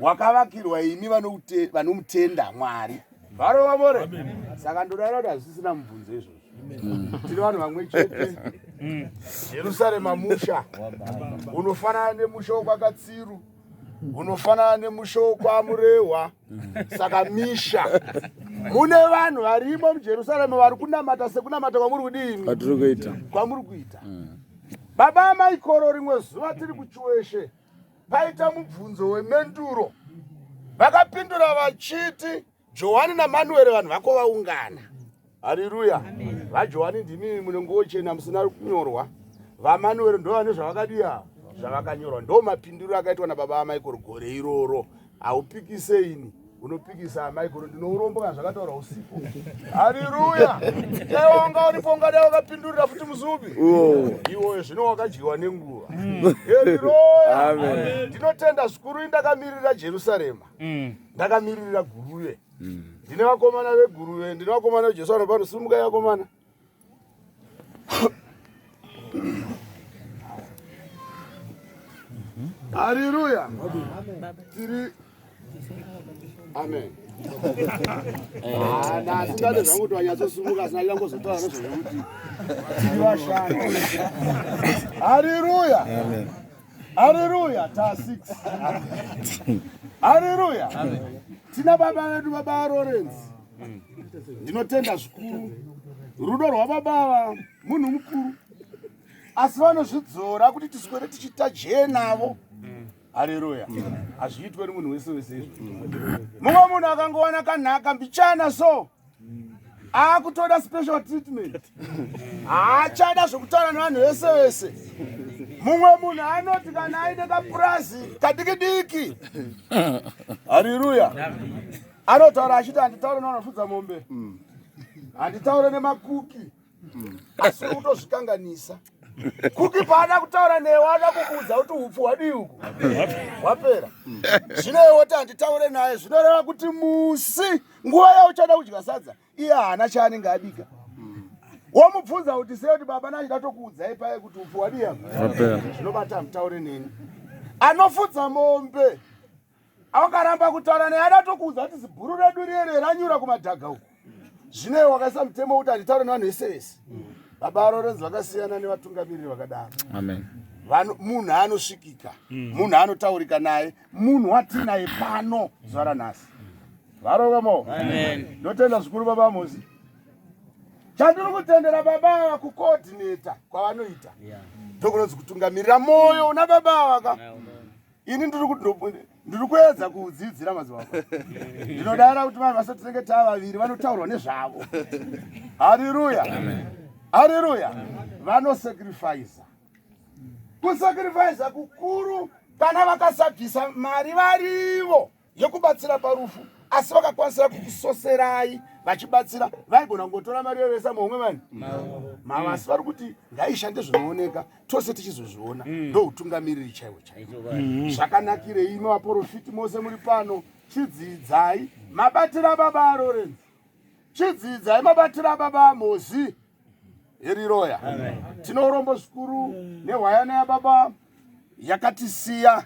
hwakavakirwa imi vanomutenda Mwari. Varova vore. Saka ndodana kuti hazvisina mubvunzo izvozvo. Mm. Tiri vanhu vamwe chete. Mm. Jerusarema musha. Unofanana nemusha wokwakatsiru. Unofanana nemusha wokwamurehwa. Mm. Saka misha. Mune vanhu varimo muJerusarema vari kunamata sekunamata kwamuri kudini? Kwatiri kuita. Kwamuri kuita. Baba amai koro rimwe zuva tiri kuchiweshe. paita mubvunzo wemenduro vakapindura vachiti johani namanueri vanhu vako vaungana hariruya vajohani ndimi munengochena musina kunyorwa vamanueri ndo vane zvavakadiya zvavakanyorwa ndo mapindiro akaitwa nababa vamaikoro gore iroro haupikise ini unopikisa amai kono ndinourombo kana zvakataura usipo hariruya dai wanga uripo ungadai wakapindurira futi muzubi iwoyo zvino wakadyiwa nenguva mm. heriroya ndinotenda zvikuru indakamiririra jerusarema mm. ndakamiririra guruve mm. ndine vakomana veguruve ndine vakomana vejesu vanopano simukai vakomana Haleluya. Tiri Amen. Ah, na singade zvangu kuti wanyatsosumuka asina ida ngozotaura nezvekuti tiri vashandi. Haleluya. Amen. Haleluya. Ta 6. Haleluya. Amen. Tina baba vedu baba Lawrence. ndinotenda zvikuru rudo rwababava munhu mukuru asi vanozvidzora kuti tiswere tichiita jee navo hareruya hazviitwe nemunhu wese wese izvo mumwe munhu akangowana kanhaka mbichana so akutoda special treatment haachada zvekutaura nevanhu vese vese mumwe munhu anoti kana aine kapurazi kadiki diki hariruya anotaura achiti handitaure nevanofudza mombe mm. handitaure nemakuki mm. asi kutozvikanganisa kuki paada kutaura newe ada kukuudza kuti upfu hwadii uku hwapera mm. zvino iwe woti handitaure naye zvinoreva kuti musi nguva yauchada kudya sadza iye haana chaanenge abika womubvunza kuti sei kuti baba nachida tokuudzai paye kuti upfu hwadii apa zvinobata hamutaure neni anofudza mombe akaramba kutaura naye adatokuudza kuti zibhuru redu riyere ranyura kumadhaga uku zvinei wakaisa mutemo wekuti handitaure nevanhu vese vese baba arorenzi vakasiyana nevatungamiriri vakadaro munhu anosvikika hmm. munhu anotaurika naye munhu watinaye pano zuva ranhasi varova mo ndotenda zvikuru baba mosi chandiri kutendera baba ava kukoordineta kwavanoita ndokunonzi kutungamirira mwoyo una baba avaka ini ndiri kuedza kudzidzira mazuva ako ndinodara kuti vanhu vasati tinenge taa vaviri vanotaurwa nezvavo hariruya hariruya vanosacrifiza kusacrifiza kukuru kana vakasabvisa mari varivo yekubatsira parufu asi vakakwanisira kukusoserai vachibatsira vaigona kungotora mari yovesa muhomwe vani mava asi vari kuti ngaishande zvinooneka tose tichizozviona mm. ndoutungamiriri chaiwo chaiwo mm-hmm. zvakanakirei imi vaporofiti mose muri pano chidzidzai mabatira baba arorenzi chidzidzai mabatira baba amozi eriroya tinorombo zvikuru nehwayana yababa yakatisiya